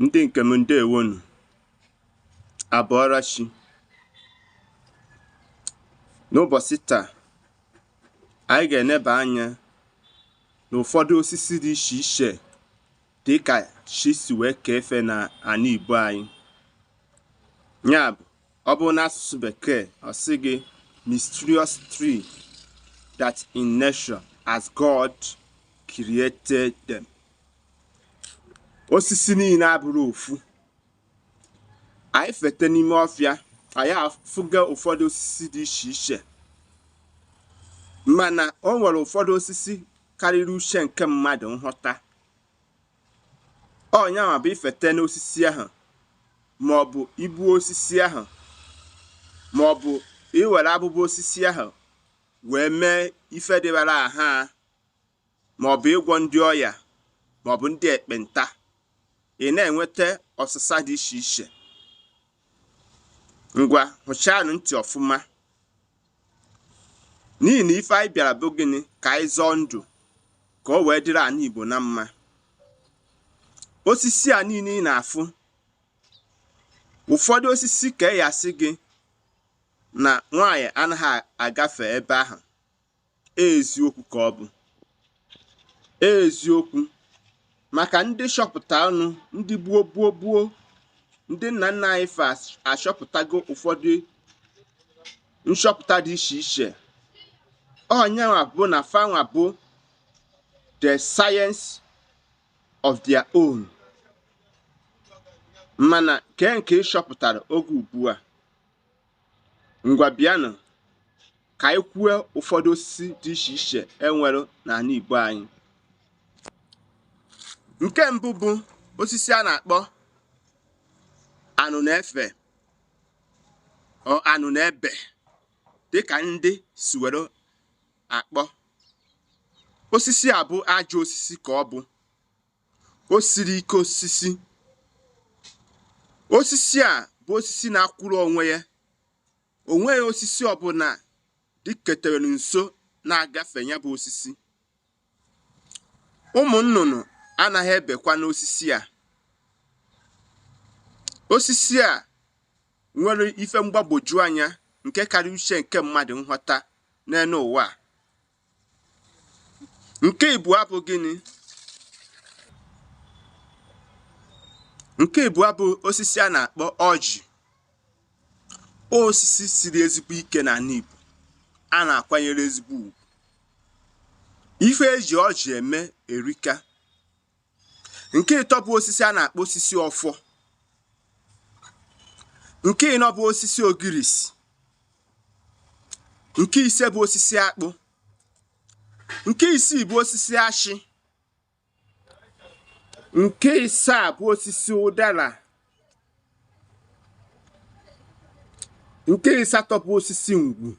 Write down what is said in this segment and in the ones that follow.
ndị nke m ndewonu a bọọra chi n'ụbọsị taa anyị ga-eneba anya n'ụfọdụ osisi dị iche iche dị ka chi si wee kee fa na anị Igbo anyị ya bụ ọ bụrụ n'asụsụ bekee ọ sị gị mysterious tree that in nature as God created them osisi niine abụrọ ofu anyị fete n'ime ọfịa anyị afụga ụfọdụ osisi dị iche iche mana o nwere ụfọdụ osisi karịrị uche nke mmadụ nghọta ọ nyanwa bụ ifete n'osisi ahụ ma ọ bụ igbuo osisi ahụ ma ọ bụ iwere abụba osisi ahụ wee mee ife dịbara aha ma ọ bụ ịgwọ ndị ọya ma ọ bụ ndị ekpenta ị na-enweta ọsịsa dị iche iche ngwa hụchaanụ ntị ọfụma n'ihi na ife anyị bịara bụ gịnị ka anyị zọọ ndụ ka o wee dịrị anị Igbo na mma osisi a niine ị na-afụ ụfọdụ osisi ka a ya-asị gị na nwaanyị anaghị agafe ebe ahụ eziokwu ka ọ bụ eziokwu maka ndị chọpụtanụ ndị gboo gboo gboo ndị nna nna anyị fa achọpụtago ụfọdụ nchọpụta dị iche iche ọ nyanwa bụ na fanwa bụ the science of their own mana kee nke ị chọpụtara oge ugbu a ngwa bịanụ ka anyị kwue ụfọdụ osisi dị iche iche e nwere na anị Igbo anyị nke mbụ bụ osisi a na-akpọ anụnụefe or anụnụebe dịka ndị si were akpọ osisi a bụ ajọ osisi ka ọ bụ o siri ike osisi osisi a bụ osisi na-akwụrụ onwe ya o nweghị osisi ọbụna dịketere nso na-agafe ya bụ osisi ụmụ nnụnụ anaghị ebekwa n'osisi a osisi a nwere ife mgbagwoju anya nke karịrị uche nke mmadụ nghọta n'enu ụwa Nke ịbụa bụ gịnị? Nke ịbụa bụ osisi a na-akpọ ọjị. Osisi siri ezigbo ike na anị Igbo a na-akwanyere ezigbo ugwu. Ife e ji ọjị eme erika. nke ịtọ bụ osisi a na-akpọ osisi ọfọ nke ịnọ bụ osisi ogirisi nke ise bụ osisi akpụ nke isii bụ osisi ashị nke isaa bụ osisi ụdala nke ịsatọ bụ osisi ngwu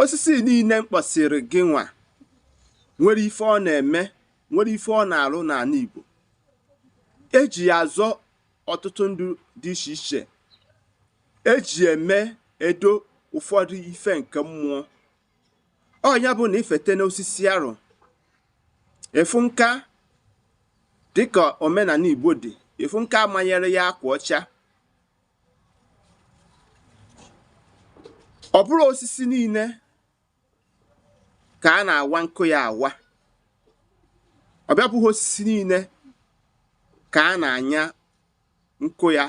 osisi niile m kpọsịrị gị nwa nwere ife ọ na-eme nwere ife ọ na-arụ n'ana Igbo e ji ya azọ ọtụtụ ndụ dị iche iche e ji emedo ụfọdụ ife nke mmụọ ọ nya bụ na i fete n'osisi arụ ị fụ nka dịka omenana Igbo dị ị fụ nke a manyere ya akwa ọcha ọ bụrọ osisi niile ka a na-awa nkụ ya awa ọ bịa bụghị osisi niile ka a na-anya nkụ ya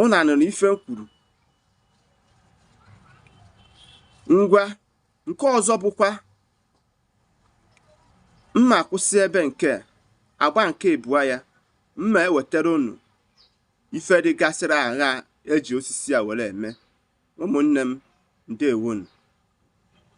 ụnụ anụrụ ife m kwuru ngwa nke ọzọ bụkwa m ma-akwụsị ebe nke a agba nke ịbụa ya m ma-ewetara unu ife dịgasịrị agha e ji osisi a were eme ụmụnne m ndewonu